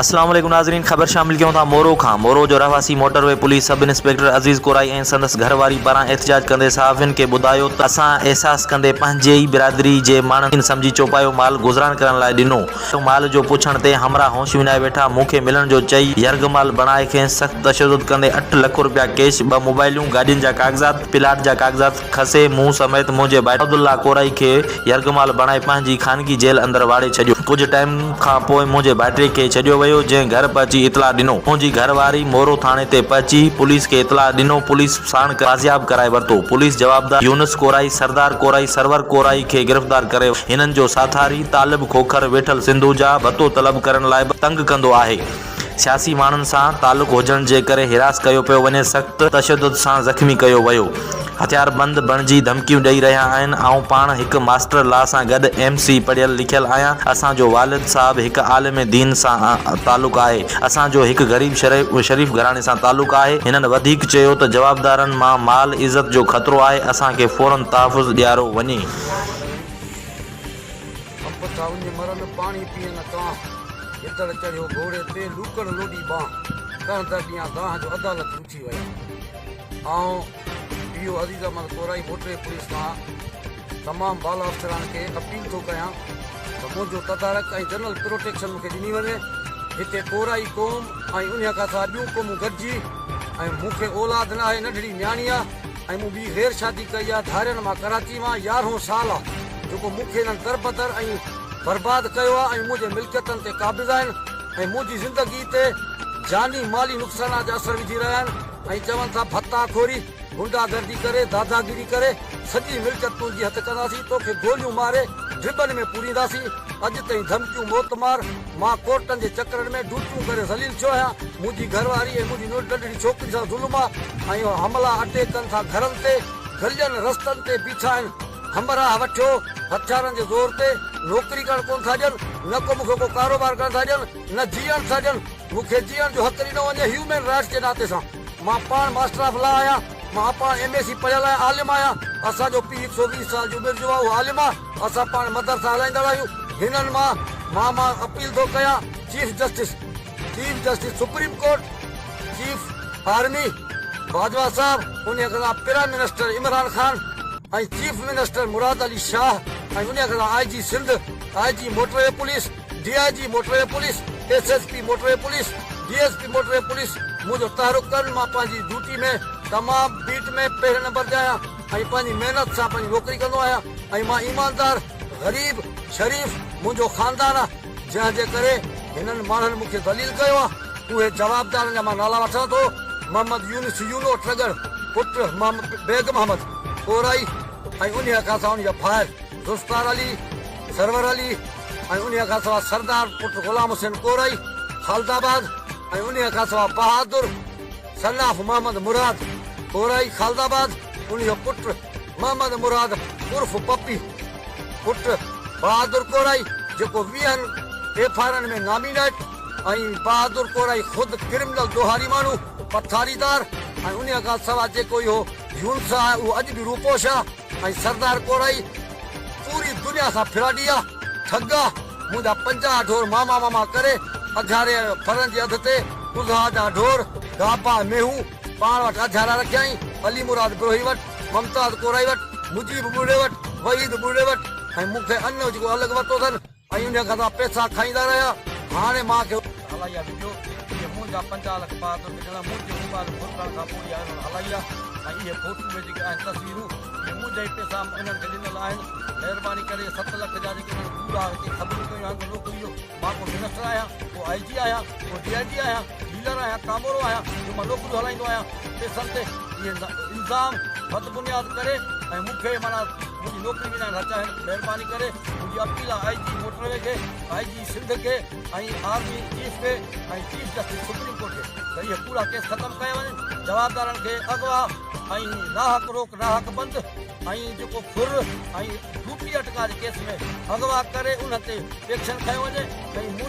اسلام عليڪم ناظرين خبر شامل ڪيون ٿا مورو کان مورو جو رهواسي motorway police sub inspector Aziz Korai ۽ سندس گهر واري پاران احتجاج ڪندي صحافين کي ٻڌايو ته اسان احساس ڪندي پنهنجي ئي برادري جي ماڻهن کي سمجهي چوپايو مال گذران ڪرڻ لاء ڏنو هيو مال جو پڇڻ تي همراهه هوش وڃائي ويٺا مون کي ملڻ جو چئي يرغمال بڻائي کين سخت تشدد ڪندي اٺ لک روپيا ڪيش ٻه موبائليون گاڏين جا ڪاغذات پلاٽ جا ڪاغذات کسي مون سميت منهنجي ڀائٽي عبدالله ڪورائي کي يرغمال بڻائي پنهنجي خانگي جيل اندر واڙي ڇڏيو. ڪجهه ٽائيم کان پوء منهنجي ڀائٽي کي ڇڏيو ويو جنهن گهر پهچي اطلاع ڏنو. منهنجي گهر واري مورو ٿاڻي تي پهچي پوليس کي اطلاع ڏنو پوليس ساڻ ڪري بازياب ڪرائي ورتو. پوليس جوابدار يونس ڪورائي، سردار ڪورائي، سرور ڪورائي کي گرفتار ڪري ورتو. هنن جو ساٿاري طالب کوکر ويٺل سنڌوجا ڀتو طلب ڪرڻ لاء به تنگ ڪندو آهي. سياسي ماڻهن سان تعلق هجڻ جي ڪري حراس ڪيو پيو وڃي سخت تشدد سان زخمي ڪيو ويو هٿياربند بڻجي ڌمڪيون ڏئي رهيا آهن آئون پاڻ هڪ ماسٽر لا سان گڏ ايم سي پڙهيل لکيل آهيان اسان جو والد صاحب هڪ عالم دين سان تعلق آهي اسان جو هڪ غريب شريف گهراڻي سان تعلق آهي هنن وڌيڪ چيو ته جوابدارن مان مال عزت جو خطرو آهي اسان کي فورن تحفظ ڏيارو وڃي. سڀ ٿا وڃي مرن، پاڻي پيئن نه ڪانه. گدڙ چڙهيو گهوڙي تي، لوڪڙ لوڏي ٻانهه. ڪنهن در ڏيان دانهن جو، عدالت روٺي ويا. آئون پي او عزيز احمد ڪورائي موٽري پوليس مان تمام بالا افسران کي اپيل ٿو ڪيان ته منهنجو تدارڪ ۽ جنرل پروٽيڪشن مون کي ڏني وڃي. هتي ڪورائي قوم ۽ انهيء کان سواء ٻيون قومون گڏجي ۽ مون کي اولاد ناهي، ننڍڙي نياڻي آ. ۽ مون ٻي غير شادي ڪئي آ ڌارين مان ڪراچي مان يارهون سال آ جيڪو مون کي انهن تربتر ۽ برباد ڪيو آ ۽ منهنجي ملڪيتن تي قابض آهن ۽ منهنجي زندگي تي جاني مالي نقصانات جا اثر وجهي رهيا آهن ۽ چون ٿا ڀتا خوري غنڊا گردي ڪري داداگيري ڪري سڄي ملڪيت تنهنجي هٿ ڪنداسين توکي گوليون ماري ڊربن ۾ پورينداسين اڄ تائين ڌمڪيون موت مار مان ڪورٽن جي چڪرن ۾ ڊيوٽيون ڪري ذليل ٿيو آهيان، منهنجي گهر واري ۽ منهنجي ننڍڙي ڇوڪري سان ظلم آهي ۽ اهي حملا اٽيڪ ڪن ٿا گهرن تي، گلين، رستن تي بيٺا آهن، همراهه وٺيو هٿيارن جي زور تي نوڪري ڪرڻ ڪونه ٿا ڏين، نه ڪو مون کي ڪو ڪاروبار ڪرڻ ٿا ڏين، نه جيئڻ ٿا ڏين، مون کي جيئڻ جو حق ڏنو وڃي هيومين رائٽس جي ناتي سان، مان پاڻ ماسٽر آف لا آهيان، مان پاڻ ايم اي سي پڙهيل ۽ عالم آهيان، اسان جو پيء هڪ سؤ ويهه سال جي عمر جو آهي اهو عالم آهي. اسان پاڻ مدرسا هلائيندڙ آهيون هنن مان مان مان اپيل ٿو ڪيان chief justice chief justice supreme court chief army Bajwa sahib انهي کان prime minister Imran Khan ۽ chief minister Murad Ali Shah ۽ انهي کان I G Sindh I G motorway police D I G motorway police S S P motorway police D S P motorway police منهنجو تحرڪ ڪرن مان پنهنجي duty ۾ تمام bat ۾ پهرين نمبر تي آهيان. ۽ پنهنجي محنت سان پنهنجي نوڪري ڪندو آهيان ۽ مان ايماندار، غريب، شريف منهنجو خاندان آهي جنهن جي ڪري هنن ماڻهن مون کي ذليل ڪيو آهي اهي جوابدارن جا مان نالا وٺان ٿو محمد يونس يونو ٽرڳڙ پٽ محمد بيگ محمد ڪورائي ۽ انهيء کان سواء ان جا ڀائر ذوالفقار علي، سرور علي ۽ انهيء کان سواء سردار پٽ غلام حسين ڪورائي خالد آباد ۽ انهيء کان سواء Bahadur. Son of Muhammad Murad, Korai Khalidabad, ان جو پٽ محمد مراد عرف پپي، پٽ بهادر ڪورائي جيڪو ويهن ايف آء آرن ۾ نامينيٽ ۽ بهادر ڪورائي خود ڪرمنل ڏوهاري ماڻهو، پٿاريدار ۽ انهي کان سواء جيڪو اهو يونس آهي اهو اڄ به روپوش آهي. ۽ سردار ڪورائي پوري دنيا سان ڦراڊي آ ٺڳ آ منهنجا پنجاهه ڍور ماما ماما ڪري اگهاري آيو ڦرن جي اڌ تي اضحا جا ڍور گابا ۽ مينهون پاڻ وٽ اڌيارا رکيائين علي مراد بروهي وٽ ممتاز ڪورائي وٽ مجيب ٻرڙي وٽ وحيد ٻرڙي وٽ ۽ مون کي اڃ جيڪو الڳ ورتو اٿن ۽ انهيء کان سا پئسا کائيندا رهيا. هاڻي مان کي. هلائي ها وينديو جي مون جا پنجاهه لک بهادر نڪرڻ مون جي موبائل گم ٿيڻ کان پوء اها انهن هلائي ها ۽ اهي فوٽو اهي جيڪي آهن تصويرون جي مون جا ئي پئسا مون انهن کي ڏنل آهن مهرباني ڪري ست لک جا جيڪي انهن گوڙها هتي خبرون ڪيون آهن ته لوڪ اهو مان ڪو منسٽر آهيان ڪو آئي جي آهيان ڪو ڊي آئي جي آهيان ڊيلر آهيان ڪامورو آهيان جو مان نوڪريون هلائيندو آهيان پئسن تي اهي الزام بدبنياد ڪري ۽ مون کي معنيٰ منهنجي نوڪري وڃائڻ نه چاهين مهرباني ڪري منهنجي appeal I G motorway کي آء جي سنڌ کي ۽ آرمي چيف کي ۽ چيف جسٽس سپريم ڪورٽ کي ته اهي پورا ڪيس ختم ڪيا وڃن جوابدارن کي اغوا ۽ ناحق روڪ ناحق بند ۽ جيڪو ڦر ۽ ڊوٽي اٽڪا جي ڪيس ۾ اغوا ڪري انهن تي ايڪشن کنيو وڃي ۽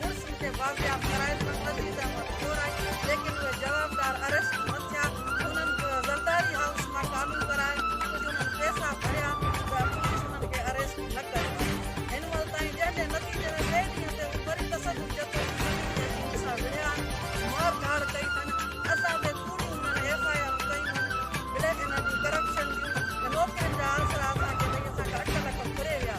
ملزم کي بازياب ڪرائڻ ۾ عزيز احمد ڪور آهي ليڪن اهي جوابدار اريسٽ نه ٿيا انهن زرداري هائوس مان ڪالون ڪرائي ڪجهه انهن پئسا ڀريا ته پوليس انهن کي اريسٽ نه ڪيو آهي هن مهل تائين جنهن جي نتيجي ۾ ٻئي ڏينهن تي هو وري تشدد جتو ۽ سنگين تهذيب سان وڙهيا آهن مار ڌاڙ ڪئي اٿن اسان تي ڪوڙيون انهن ايف آء آرون ڪيون آهن بليڪ انهن جون ڪرپشن جون ۽ نوڪرين جا آسرا اسان کي ڏئي اسان کان اٺ لک ڦري ويا